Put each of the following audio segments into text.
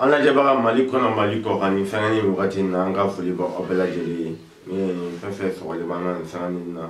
an lajɛbaga mali kɔnɔ mali kɔkan nin sanga ni wagati na an ka foli b'aw bɛɛ lajɛlen ye ne ye fɛn fɛn sɔgɔli b'an na nin sanga ni na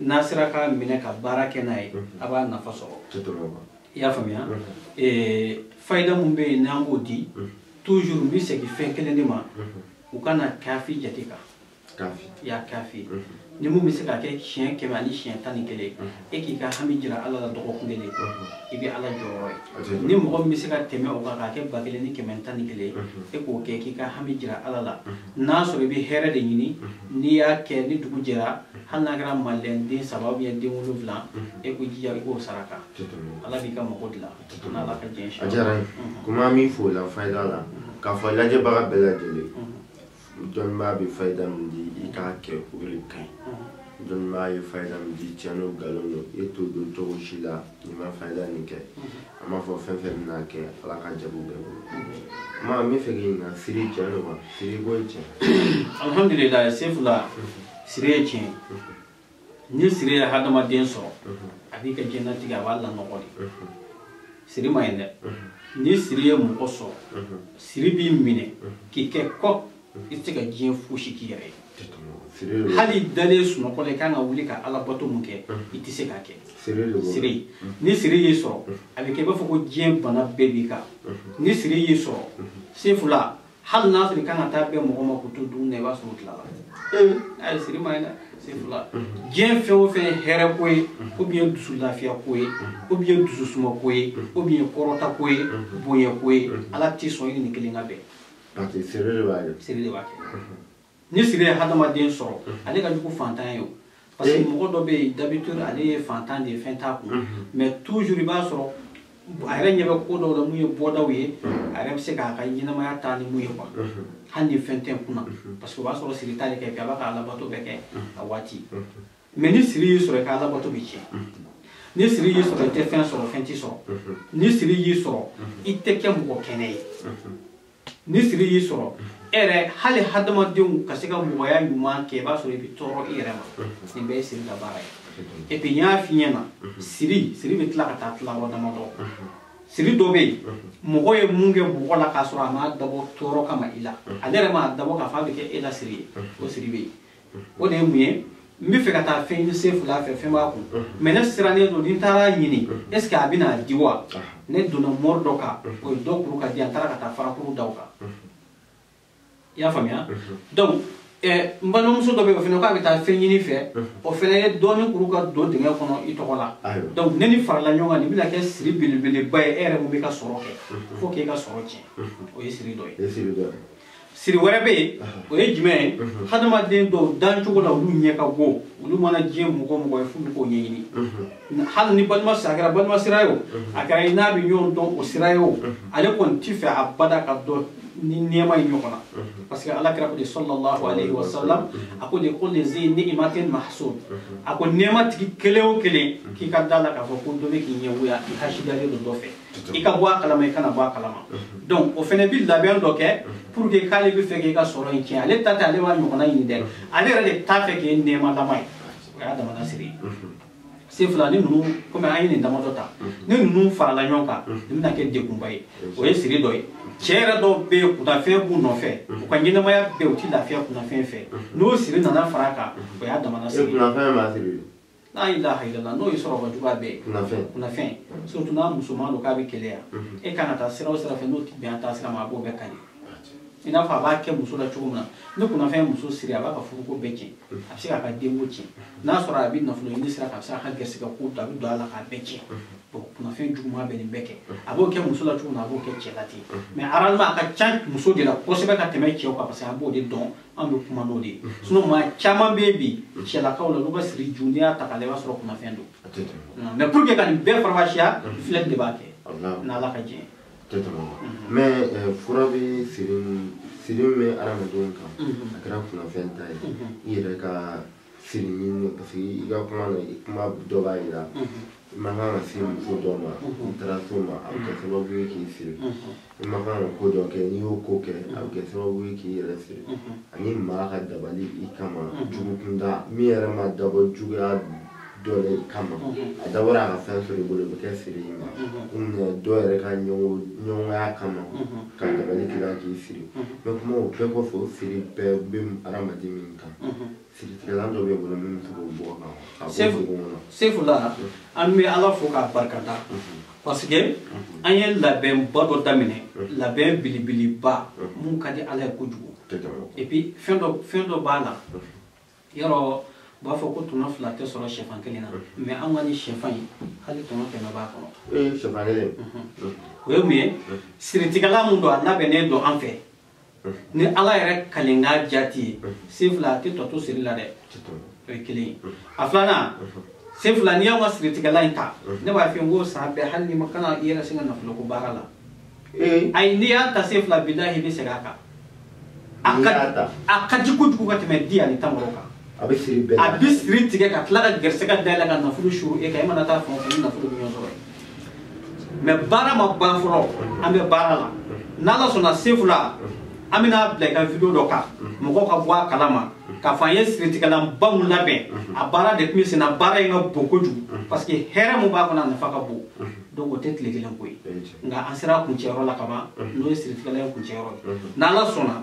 n'a sera ka minɛ ka baara kɛ n'a ye a b'a nafa sɔrɔ i y'a faamuya fayida min bɛ yen n'an k'o di toujours n bɛ segin fɛn kelen de ma u kana kafi jate kan ya kafi ni mun bɛ se ka kɛ siɲɛ kɛmɛ ani siɲɛ tan ni kelen e k'i ka hami jira ala la dɔgɔkun kelen i bɛ ala jɔyɔrɔ ye ni mɔgɔ min bɛ se ka tɛmɛ o kan k'a kɛ ba kelen ni kɛmɛ tan ni kelen e k'o kɛ k'i ka hami jira ala la n'a sɔrɔ i bɛ hɛrɛ de ɲini n'i y'a kɛ ni dugu jɛra hali n'a kɛra madeleine den saba ou bien den wolonwula e k'o jija i k'o saraka ala b'i ka mago dilan n'ala ka diɲɛ si a diyara n ye kuma min fɔla fayida la k'a fɔ lajɛbaga bɛɛ lajɛlen dɔnnibaa bɛ fayida min di i k'a kɛ o de ka ɲi dɔnnibaa ye fayida min di tiɲɛ don nkalon don e t'o don cogo si la n'i ma fayida nin kɛ an b'a fɔ fɛn fɛn mana kɛ ala ka jaabi bɛɛ bolo ma n bɛ fɛ k'i ɲininka siri tiɲɛ don wa siri ko ye tiɲɛ alhamdulilayi sefula siri ye tiɲɛ ni siri ye hadamaden sɔrɔ a b'i ka diɲɛnatigɛ a b'a lanɔgɔ de siri ma ɲi dɛ ni siri ye mɔgɔ sɔrɔ siri b'i minɛ k'i kɛ kɔ i tɛ se ka diɲɛ fosi k'i yɛrɛ ye hali dalen sunɔgɔ la i kan ka wuli ka alabato mun kɛ i tɛ se k'a kɛ siri ni siri y'i sɔrɔ a bɛ kɛ i b'a fɔ ko diɲɛ bana bɛɛ b'i kan ni siri y'i sɔrɔ sefula hali n'a sɔrɔ i kan ka taa bɛn mɔgɔ ma k'u to dumuni na i b'a sɔrɔ u tilala ayi siri ma ɲi dɛ sefula diɲɛ fɛn o fɛn ye hɛrɛ ko ye ou bien dusu lafiya ko ye ou bien dusu suma ko ye ou bien kɔrɔta ko ye bonya ko ye ala tɛ sɔn i ni kelen ka bɛn parce que siri de b'a kɛ siri de b'a kɛ ni siri ye hadamaden sɔrɔ ale ka jugu fantan ye o parce que mɔgɔ dɔ bɛ yen d'habitude ale ye fantan de ye fɛn t'a kun mais toujours i b'a sɔrɔ a yɛrɛ ɲɛ bɛ ko dɔw la mun ye bɔdaw ye a yɛrɛ bɛ se k'a ka ɲɛnamaya taa ni mun ye quoi hali ni fɛn tɛ n kunna parce que o b'a sɔrɔ siri t'ale kɛ a b'a ka alabato bɛɛ kɛ a waati mais ni siri y'i sɔrɔ i ka alabato bɛ tiɲɛ ni siri y'i sɔrɔ i tɛ fɛn sɔrɔ fɛn t'i sɔrɔ ni siri y'i sɔrɔ i tɛ kɛ mɔgɔ kɛnɛ ye ni siri y'i sɔrɔ e yɛrɛ hali hadamadenw ka se ka mɔgɔya ɲuman kɛ i b'a sɔrɔ i bɛ tɔɔrɔ i yɛrɛ ma nin bɛɛ ye siri ka baara ye et puis n y'a f'i ɲɛna siri siri bɛ tila ka taa tila yɔrɔ damadɔ siri dɔ bɛ yen mɔgɔ ye mun kɛ mɔgɔ la k'a sɔrɔ a m'a dabɔ tɔɔrɔ kama i la ale yɛrɛ m'a dabɔ k'a fɔ a bɛ kɛ e la siri ye o siri bɛ yen o de ye mun ye n bɛ fɛ ka taa fɛn ɲini sefula fɛ fɛn b'a kun mais ne sirannen don ni n taara ɲini est ce que a bɛna di wa ne donna mɔri dɔ kan o ye dɔ kuru ka di an taara ka taa farakuru da o kan i y'a faamuya donc n balimamuso dɔ bɛ yen o fana k'a bɛ taa fɛn ɲini i fɛ o fana ye dɔɔni kuru ka don dingɛ kɔnɔ i tɔgɔ la donc ni nin farala ɲɔgɔn kan nin bɛna kɛ siri belebeleba ye e yɛrɛ mun bɛ ka sɔrɔ kɛ fo k'e ka sɔrɔ tiɲɛ o ye siri dɔ ye siri wɛrɛ bɛ yen o ye jumɛn ye hadamaden dɔw dancogo la olu ɲɛ ka go olu mana diɲɛ mɔgɔ o mɔgɔ ye f'u bɛ k'o ɲɛɲini hali ni balima sira a kɛra balima sira ye o a kɛra i n'a bɛ ɲɔgɔn dɔn o sira ye o ale kɔni t'i fɛ abada ka don nin nɛɛma in ɲɔgɔn na parce que ala kira ko de sallallahu alayhi wa sallam a ko de kulli zi ni'matin mahsud a ko nɛɛma tigi kelen o kelen k'i ka da la k'a fɔ ko dɔ bɛ k'i ɲɛgoya i hasidalen don dɔ fɛ i ka bɔ a kalama i kana bɔ a kalama donc o fana bi labɛn dɔ kɛ pour que k'ale bɛ fɛ k'i ka sɔrɔ in tiɲɛ ale ta tɛ ale b'a ɲɔgɔnna ɲini dɛ ale yɛrɛ de t'a fɛ k'e nɛɛmalama ye o y'a damana siri ye sefula ni ninnu comme an ye nin damadɔ ta ni ninnu farala ɲɔgɔn kan nin bɛna kɛ degunba ye o ye siri dɔ ye cɛ yɛrɛ dɔw bɛ yen kunnafɛn b'u nɔfɛ u ka ɲɛnamaya bɛɛ u ti lafiya kunnafɛn fɛ n'o siri nana fara a kan o y'a damana siri ye la ilaha illallah n'o ye sɔrɔba juguya bɛɛ ye kunnafɛn surtout n'a musoman don k'a bɛ keleya e kan ka taa sira o sira fɛ n'o ti bɛn a taa sira ma a b'o bɛɛ kari i n'a fɔ a b'a kɛ muso la cogo min na ni kunnafɛn ye muso siri a b'a ka furuko bɛɛ tiɲɛ a bɛ se k'a ka denko tiɲɛ n'a sɔrɔ a bɛ nafolo ɲini sira kan a bɛ se k'a ka gɛrisigɛ ko a bɛ don a la k'a bɛɛ tiɲɛ bon kunnafɛn juguman bɛ nin bɛɛ kɛ a b'o kɛ muso la cogo min na a b'o kɛ cɛ la ten mais généralement a ka ca muso de la kosɛbɛ ka tɛmɛ cɛw kan parce que an b'o de dɔn an bɛ kuma n'o de ye sinon maa caman bɛ yen bi cɛlakaw la olu ka siri ju n'i y'a ta k'a lajɛ i b'a sɔrɔ kunnafɛn don mais pour que ka nin bɛɛ farafasiya filɛli de b'a kɛ n'ala ka diɲɛ ye mais fura bɛ siri siri min bɛ adamadenw kan a kɛra kunnafɛn ta ye i yɛrɛ ka siri ɲini parce que i ka kuma na i kuma dɔ b'a yira i ma kan ka se muso dɔ ma i taara s'o ma a bɛ kɛ sababu ye k'i siri i ma kan ka ko dɔ kɛ n'i y'o ko kɛ a bɛ kɛ sababu ye k'i yɛrɛ siri ani maa ka dabali i kama jugukunda min yɛrɛ ma dabɔ juguya dɔ la i kama a dabɔra a ka fɛn sɔrɔ i bolo o bɛ kɛ siri i ma comme dɔ yɛrɛ ka ɲɛgoya kama ka dabali k'i la k'i siri mais kuma o bɛɛ kɔfɛ o siri bɛɛ bɛ hadamaden min Siritigɛlan dɔ bɛ an bolo min bɛ se k'o bɔ kan a bɔ dugu kɔnɔ sefula an bɛ ala fo k'a barikada parce que an ye labɛnba dɔ daminɛ labɛn belebeleba mun ka di ala ye kojugu et puis fɛn dɔ b'a la yɔrɔ u b'a fɔ ko tɔnɔ fila tɛ sɔrɔ sɛfan kelen na mais an ka nin sɛfan in hali tɔnɔ kɛmɛ b'a kɔnɔ ee sɛfan kelen o ye mun ye siritigɛlan mun don a labɛnnen don an fɛ ni ala yɛrɛ kalenkan jati ye sefula a tɛ tɔ to siri la dɛ o ye kelen ye a filanan sefula n'i y'anw ka siritigɛlan in ta ne b'a f'i ye n ko san bɛɛ hali n'i ma kana i yɛrɛ sin ka nafolo ko baara la ayi n'i y'a ta sefula bilahi i bɛ segin a kan a ka di kojugu ka tɛmɛ di ani tamaro kan a bɛ siri bɛɛ a bɛ siri tigɛ ka tila ka gɛrɛsɛgɛ dayɛlɛ ka nafolo suuru e kan e mana taa fan o fan ni nafolo bɛ ɲɔgɔn sɔrɔ yen mais baara ma ban fɔlɔ an bɛ baara la n'ala sɔnna sefula an bɛn'a bila i ka video dɔ kan mɔgɔw ka bɔ a kalama k'a fɔ an ye siritigɛlanba mun labɛn a baara de tun bɛ senna baara in ka bon kojugu parce que hɛrɛ mun b'a kɔnɔ a nafa ka bon donc o tɛ tile kelen ko ye nka an sera kuncɛyɔrɔ la kaban n'o ye siritigɛlan ye kuncɛyɔrɔ ye n'ala sɔnna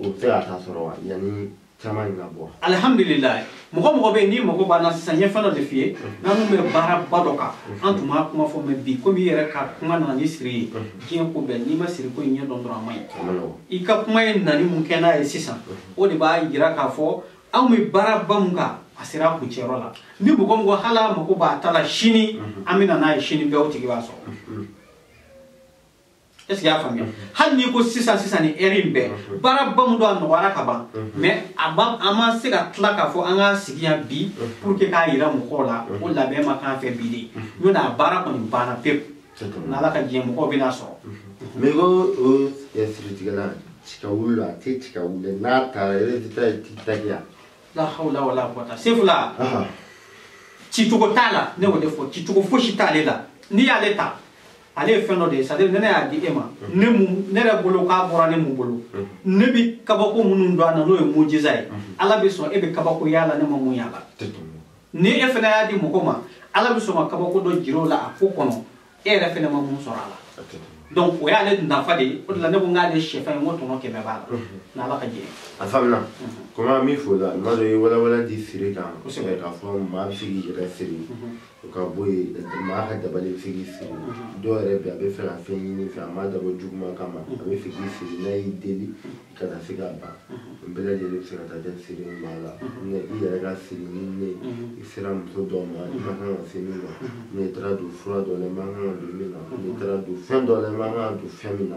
o bɛ se ka taa sɔrɔ wa yanni caman in ka bɔ alihamdulilayi mɔgɔ mɔgɔ bɛ yen n'i mago b'an na sisan n ye fɛn dɔ de f'i ye n'an tun bɛ baaraba dɔ kan an tun b'a kuma fɔ mais bi komi i yɛrɛ ka kuma nana ni siri ye diɲɛ ko bɛɛ n'i ma siri ko in ɲɛ dɔn dɔrɔn a ma ɲi a ma nɔgɔn i ka kuma ye nani mun kɛ n'a ye sisan o de b'a jira k'a fɔ anw bɛ baaraba mun kan a sera a kuncɛyɔrɔ la ni mɔgɔ min ko hali a mago b'a ta la sini an bɛ na n'a ye sini bɛɛ o tigi b'a sɔrɔ est ce que y'a faamuya hali n'i ko sisan sisan ni heure in bɛɛ baaraba mun don a nɔgɔyara ka ban mais a ba an ma se ka tila k'a fɔ an ka sigi yan bi pour que k'a yira mɔgɔw la ko labɛn ma k'an fɛ bi de n'o tɛ a baara kɔni banna pewu n'ala ka diɲɛ mɔgɔw bɛn'a sɔrɔ mais ko o siritigɛla tika wuli la a tɛ tika wuli n'a taara résultat ye tikitakiya la hawla wala quwata sefula cicogo t'a la ne y'o de fɔ cicogo fosi t'ale la n'i y'ale ta ale ye fɛn dɔ de ye c'est à dire ne ne y'a di e ma ne mu ne yɛrɛ bolo k'a bɔra ne mun bolo ne bi kabako minnu dɔn a na n'o ye mujiza ye ala bɛ sɔn e bɛ kabako y'a la ne ma mun y'a la ni e fana y'a di mɔgɔ ma ala bɛ sɔn ka kabako dɔ jira o la a ko kɔnɔ e yɛrɛ fana ma mun sɔrɔ a la donc o y'ale nafa de ye o de la ne ko n k'ale sɛfan ye n ko tɔnɔ kɛmɛ b'a la n'ala ka diɲɛ a faamuna komi an b'i fo la n'a dɔ ye walawala di siri kan k'a fɔ maa bɛ se k'i yɛrɛ siri o ka bɔ yen maa ka dabali bɛ se k'i siri mhm. dɔw yɛrɛ bɛ a bɛ fɛ ka fɛn ɲini fɛ a m'a dabɔ juguman kama a bɛ fɛ k'i siri n'a y'i deli kana se ka ban mhm. bɛɛ lajɛlen bɛ se ka taa kɛ siri maa la mhm. mais i yɛrɛ ka siri ni ne i sera muso dɔ ma i ma kan ka se min ma n'i taara don fura dɔ la i ma kan ka don min na n'i taara don fɛn dɔ la i ma kan ka don fɛn min na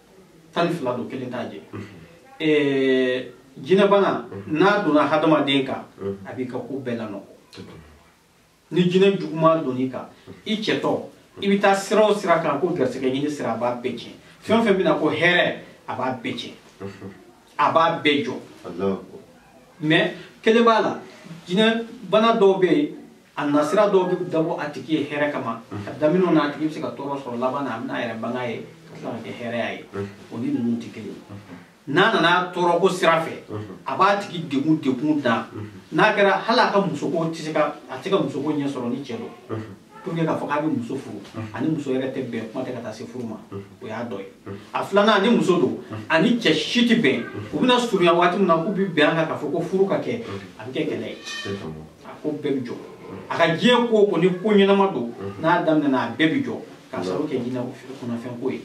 tan ni fila don kelen t'a jɛ eh, jinɛbana n'a donna hadamaden kan a b'i ka ko bɛɛ lanɔgɔ ni jinɛ juguman donn'i kan i cɛtɔ i bɛ taa sira o sira kan ko garisɛgɛ ɲini sira a b'a bɛɛ tiɲɛ fɛn o fɛn bɛna ko hɛrɛ a b'a bɛɛ tiɲɛ a b'a bɛɛ jɔ mais kelen b'a la jinɛ bana dɔw bɛ yen a nasira dɔw bɛ dabɔ a tigi ye hɛrɛ kama a daminɛw na a tigi bɛ se ka tɔɔrɔ sɔrɔ laban na a bɛna a yɛrɛ banga ye ka tila ka kɛ hɛrɛya ye o ni ninnu tɛ kelen n'a nana tɔɔrɔ ko sira fɛ a b'a tigi degun degun dan n'a kɛra hali a ka musoko tɛ se ka a tɛ ka musoko ɲɛ sɔrɔ ni cɛ don pour que k'a fɔ k'a bɛ muso furu a ni muso yɛrɛ tɛ bɛn kuma tɛ ka taa se furu ma o y'a dɔ ye a filanan ni muso don a ni cɛ si tɛ bɛn u bɛna surunya waati min na k'u bɛ bɛn a kan k'a fɔ ko furu ka kɛ a bɛ kɛ kɛlɛ ye a ko bɛɛ bɛ jɔ a ka diɲɛ ko o ko ni ko ɲɛnama don n'a daminɛna a bɛɛ bɛ jɔ k'a sababu kɛ jinɛ kunnafɛnko ye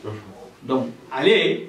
donc ale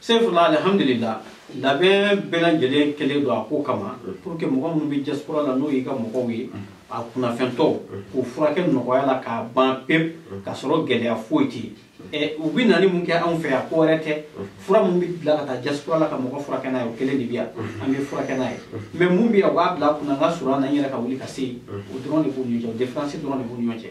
sefula alhamdulillah labɛn bɛɛ lajɛlen kɛlen don a ko kama pour que mɔgɔ minnu bɛ diaspora la n'o y'i ka mɔgɔw ye a kunnafɛntɔw k'u furakɛ nɔgɔya la k'a ban pewu k'a sɔrɔ gɛlɛya foyi tɛ yen u bɛ nali mun kɛ anw fɛ yan ko wɛrɛ tɛ fura min bɛ bila ka taa diaspora la ka mɔgɔ furakɛ n'a ye o kelen de bɛ yan an bɛ furakɛ n'a ye mais mun bɛ yen u b'a bila kunna n ka surun an na n yɛrɛ ka wuli ka se yen o dɔrɔn de b'u ni ɲɔgɔn cɛ différence dɔrɔn de b'u ni ɲɔgɔn cɛ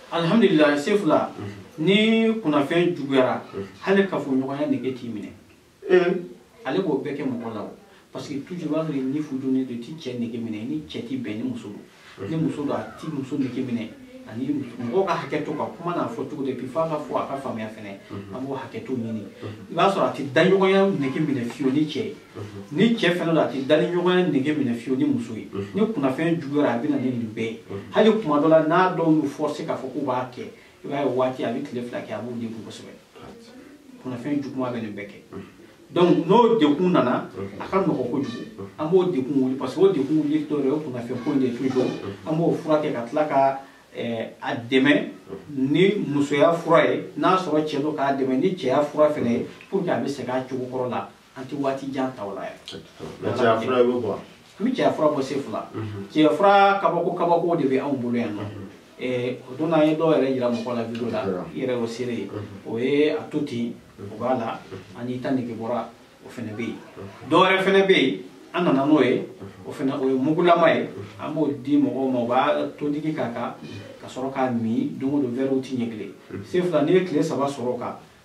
alhamdulillah sefula ni kunnafɛn juguyara hali kafoɲɔgɔnya nege t'i minɛ ale b'o bɛɛ kɛ mɔgɔ la o parce que toujours i b'a sɔrɔ ni fudonnen don i ti cɛ nege minɛ ni cɛ ti bɛn ni muso don ni muso don a ti muso nege minɛ ani mɔgɔw ka hakɛ to ka kuma n'a fɔ cogo de bi f'a ka fɔ a ka faamuya fɛnɛ an b'o hakɛ to ɲini i b'a sɔrɔ a ti daɲɔgɔnya nege minɛ fiyewu ni cɛ ye ni cɛ fɛnɛ don a tɛ dali ɲɔgɔnya nege minɛ fiyewu ni muso ye ni kunnafɛn juguyara a bɛ na ni nin bɛɛ ye hali kuma dɔ la n'a dɔw y'u forcer k'a fɔ k'u b'a kɛ i b'a ye waati a bɛ tile fila kɛ a b'u degun kosɛbɛ kunnafɛn juguman bɛ nin bɛɛ kɛ donc n'o degun nana a ka nɔgɔ kojugu an b'o degun wuli parce que o degun wuli dɔ yɛrɛ o kunnafɛn ko in de toujours an b'o furakɛ ka tila ka eh, a dɛmɛ ni musoya fura ye n'a sɔrɔ cɛ don k'a dɛmɛ ni cɛya fura fɛnɛ ye pour que a bɛ segin a cogo kɔrɔ la an tɛ waati jan ta o la yɛrɛ mais cɛya fura i bɛ bɔ an bɛ cɛya fura bɔ sefula cɛya fura kabako kabako de bɛ anw bolo yan nɔ o don an ye dɔw yɛrɛ yira mɔgɔ la video la i yɛrɛ y'o seere ye o ye a to ten o b'a la ani ta nege bɔra o fana bɛ yen dɔw wɛrɛ fana bɛ yen an nana n'o ye o fana o ye mugulama ye an b'o di mɔgɔw ma u b'a todigi k'a kan ka sɔrɔ k'a min don o don wɛri te ɲɛ kelen sefula n'i ye tile saba sɔrɔ o kan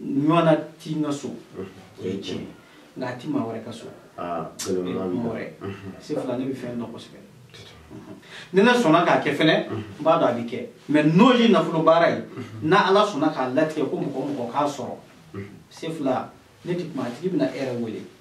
ɲɔgɔnna ti n ka so o ye tiɲɛ ye nka a ti maa wɛrɛ ka so ah, mɔrɛ sefula ne bɛ fɛn dɔn kosɛbɛ ni ne sɔnna k'a kɛ fɛnɛ n b'a dɔn a bɛ kɛ mais n'o ye nafolo baara ye n'ala sɔnna k'a latigɛ ko mɔgɔ o mɔgɔ k'a sɔrɔ sefula ne tɛ kuma a tigi bɛna e yɛrɛ wele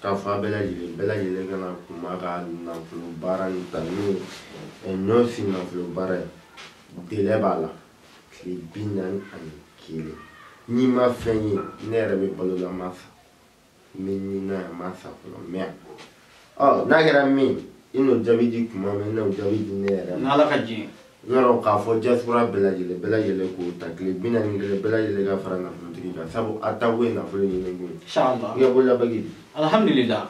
k'a fɔ a bɛɛ lajɛlen bɛɛ lajɛlen ka na kuma ka nafolo baara in ta n'o ye eh, nɔnsi nafolo baara ye délai b'a la tile bi naani ani kelen n'i ma fɛn ye ne yɛrɛ bɛ balo la n ma sa n bɛ ni na yan n ma sa fɔlɔ mais n'a kɛra min i n'o jaabi di kuma min i n'o jaabi di ne yɛrɛ ma n'ala ka jɛn yɔrɔ k'a fɔ diaspora bɛɛ lajɛlen bɛɛ lajɛlen k'o ta tile bi naani ni kelen bɛɛ lajɛlen ka fara nafolotigi kan sabu a taw ye nafolo ɲini kun ye i ka bololabaki alhamdulila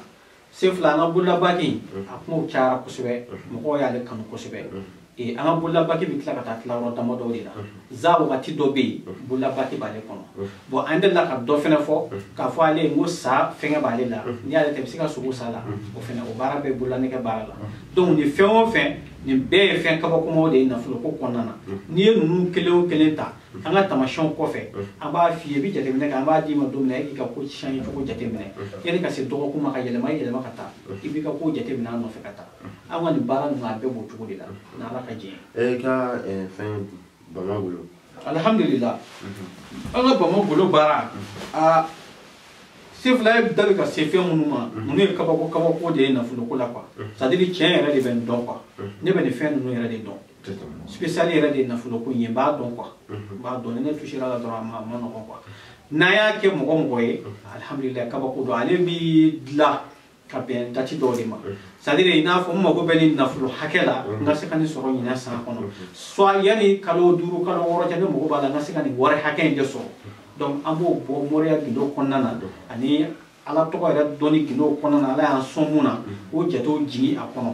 sen fila an ka bololabaki mm. a kumaw cayara kosɛbɛ mm-hmm. mɔgɔw y'ale kanu kosɛbɛ mm-hmm. an ka bololabaki bɛ tila ka taa tila yɔrɔ damadɔw de la mm-hmm. za wagati dɔ bɛ yen bololabaki b'ale kɔnɔ bɔn an delila ka dɔ fɛnɛ fɔ k'a fɔ ale n ko sa fɛngɛ b'ale la n'i y'ale ta i bɛ se ka sogo sa la o fɛnɛ o baara bɛ bololanɛgɛ baara la donc nin fɛn o fɛn nin bɛɛ ye fɛn kabakomaw de ye nafoloko kɔnɔna na n'i ye ninnu kelen o kelen ta an ka tamasiyɛnw kɔfɛ an b'a f'i ye i bɛ jateminɛ kɛ an b'a d'i ma don min na e k'i ka ko siɲɛ cogo jateminɛ yanni ka se dɔgɔkun ma ka yɛlɛma yɛlɛma ka taa i b'i ka ko jateminɛ a nɔfɛ ka taa an ka nin baara ninnu a bɛɛ b'o cogo de la n'ala ka jɛn ye. e ka fɛn bamagolo alhamdulillah an ka bamagolo baara a sefila i da bɛ ka se fɛn minnu ma ninnu ye kabako kabako de ye nafoloko la quoi c'est à dire que ne yɛrɛ de bɛ nin dɔn quoi ne bɛ nin fɛn ninnu yɛrɛ de dɔn spécial yɛrɛ de ye nafoloko in ye n b'a dɔn quoi n b'a dɔn ni ne touchera la dɔrɔn a ma a man nɔgɔn quoi n'an y'a kɛ mɔgɔ mɔgɔ ye alhamdulillah kabako don ale bi dilan ka bɛn dati dɔw de ma c'est à dire i n'a fɔ n mago bɛ nin nafolo hakɛ la n ka se ka nin sɔrɔ ɲinɛ san kɔnɔ soit yanni kalo duuru kalo wɔɔrɔ cɛ ne mago b'a la n ka se ka nin wari hakɛ in de sɔrɔ donc an b'o bɔ moriya gindo kɔnɔna na ani ala tɔgɔ yɛrɛ dɔnni gindo kɔnɔna na ala y'an sɔn mun na o jatew jigin a kɔnɔ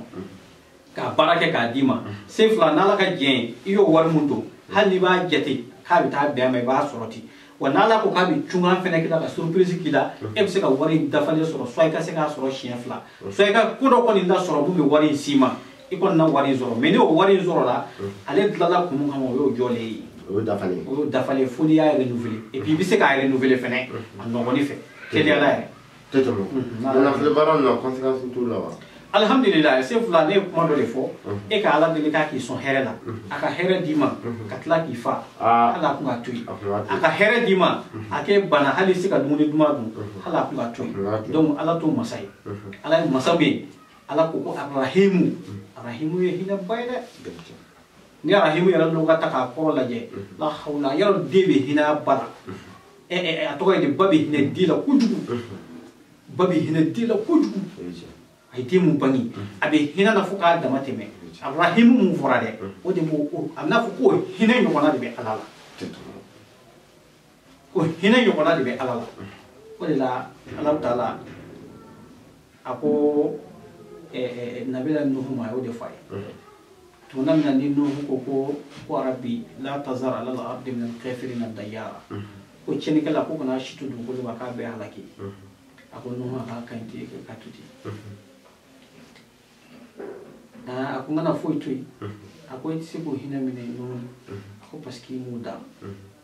k'a baara kɛ k'a d'i ma sen fila n'ala ka jɛn i y'o wari mun don hali n'i b'a jate k'a bɛ taa bɛn a ma i b'a sɔrɔ ten wa n'ala ko k'a bɛ cunkan fɛnɛ k'i la ka surprise k'i la e bɛ se ka wari in dafalen sɔrɔ soit i ka se k'a sɔrɔ siɲɛ fila soit i ka ko dɔ kɔni lasɔrɔ mun bɛ wari in s'i ma i kɔni na wari in sɔrɔ mais ni o wari in sɔrɔla ale dilanna kun min kama o y'o jɔlen ye o y'o dafalen o y'o dafalen fo n'i y'a renouveler et puis i bɛ se k'a renouveler fɛnɛ a nɔgɔnni fɛ teliya la yɛrɛ tɛ tɛmɛ nafolo baara ninnu na conséquence t'u la wa alhamdulilayi se fila ne ye kuma dɔ de fɔ e ka ala deli k'a k'i sɔn hɛrɛ la a ka hɛrɛ d'i ma ka tila k'i fa hali a kun ka to yen a ka hɛrɛ d'i ma a k'e bana hali se ka dumuni duman dun hali a kun ka to yen donc ala t'o masa ye ala ye masa min ye ala ko ko arahimu arahimu ye hinɛba ye dɛ ni arahimu yɛrɛ dɔw ka taa k'a kɔrɔ lajɛ la hawla yɔrɔ den bɛ hinɛ ba la a tɔgɔ ye de ba bɛ hinɛ den la kojugu ba bɛ hinɛ den la kojugu a ye den mun bange a bɛ hinɛ na fo k'a dama tɛmɛ arahimu mun fɔra dɛ o de b'o a bɛna fɔ k'o hinɛ ɲɔgɔnna de bɛ ala la ko hinɛ ɲɔgɔnna de bɛ ala la o de la ala taala a ko nabila nuhu ma a y'o de fɔ a ye tuma min na ni nuhu ko ko ko rabi la tazar alal ardi min alkafirina dayyara ko cɛnikɛla ko kana si to dugukolo ma k'a bɛɛ halaki a ko nuhu a k'a ka ɲi ten ka to ten a ko n kana foyi to yen a ko i tɛ se k'o hinɛ minɛ nuhu a ko parce que i m'o da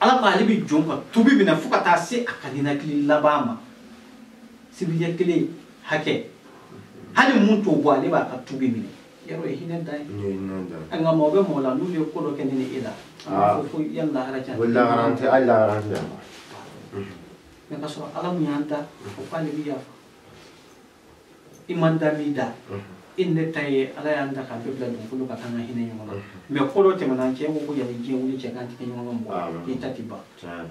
ala ko ale bɛ jɔn ka tubi minɛ fo ka taa se a ka ninakili laban ma sibiri ɲɛ kelen hakɛ hali mun t'o bɔ ale b'a ka tubi minɛ yɔrɔ ye hinɛ dan ye nka mɔgɔ bɛ mɔgɔ la n'u ye ko dɔ kɛ ne ni e la a b'a fɔ ko yan lahara yan tɛ lahara tɛ hali lahara tɛ yan mɛ ka sɔrɔ ala mun y'an da o k'ale bɛ yafa i ma da b'i da i ni ne ta ye ala y'an da k'an bɛɛ bila dugukolo kan k'an ka hinɛ ɲɔgɔn na mɛ ko dɔ tɛmɛna cɛ ko ko yanni diɲɛ wuli cɛ k'an tɛ kɛ ɲɔgɔn ka mɔgɔ i ta ti ban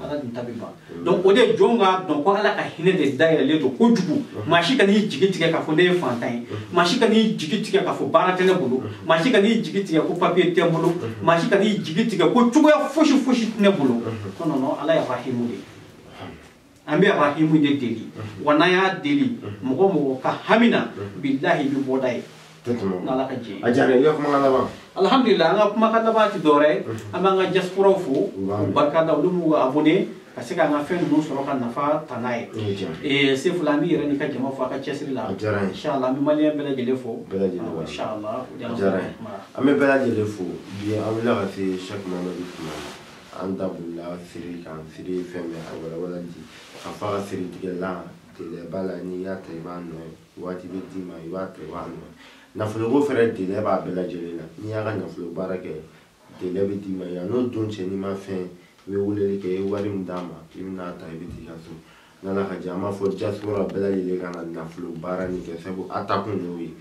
ala dun ta bɛ ban donc o de jɔn k'a dɔn ko ala ka hinɛ de dayɛlɛlen don kojugu maa si kan'i jigi tigɛ k'a fɔ ne ye fantan ye maa si kan'i jigi tigɛ k'a fɔ baara tɛ ne bolo maa si kan'i jigi tigɛ ko papiye tɛ n bolo maa si kan'i jigi tigɛ ko cogoya fosi fosi tɛ ne bolo ko non non ala y'arahimu de ye an bɛ arahimu de deli wa n'an y'a deli mɔgɔ mɔgɔ ka hami na bilahi i bɛ bɔda ye n'ala ka jɛ a diyara i ka kumakan laban alhamdulilayi an ka kumakan laban tɛ dɔwɛrɛ ye an b'an ka diaspora fo k'u barika da olu b'u abonné ka se k'an ka fɛn ninnu sɔrɔ ka nafa ta n'a ye ee sefula an b'i yɛrɛ n'i ka jama fo a ka cɛsiri la inshallah an bɛ maliyɛn bɛɛ lajɛlen fo inshallah an bɛ bɛɛ lajɛlen fo bi an wulila ka se sɛki mamadu kuma an da bolila siri kan siri ye fɛn bɛ a walawala di ka fɔ a ka siri tigɛ la délai b'a la n'i y'a ta i b'a nɔ ye waati bɛ d'i ma i b'a ta i b'a nɔ ye nafoloko fɛnɛ délai b'a bɛɛ lajɛlen na n'i y'a ka nafolo baara kɛ délai bɛ d'i ma yan n'o don cɛ n'i ma fɛn i bɛ weleli kɛ i ye wari min d'a ma i bɛna a ta i bɛ t'i ka so n'ala ka jɛ an b'a fɔ diaspora bɛɛ lajɛlen ka na nafolo baara nin kɛ sabu a ta kun y'o ye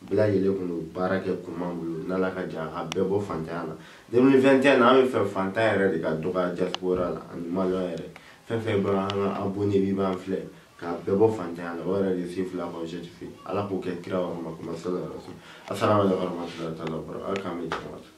bɛɛ lajɛlen kun y'o baara kɛ kun b'an bolo n'ala ka jɛ a ka bɛɛ bɔ fantanya la 2021 na an b'a fɛ fantan yɛrɛ de ka dɔgɔya diaspora la ani maliyɛn yɛrɛ fɛn fɛn bɛ an ka abonné bi b'an filɛ k'a bɛɛ bɔ fantanya la o yɛrɛ de sefula k'o certifié ala k'o kɛ kira warama kuma sala rasul asalamu alaikum warahmatullahi taala wabarakatuh ala k'an bɛ jama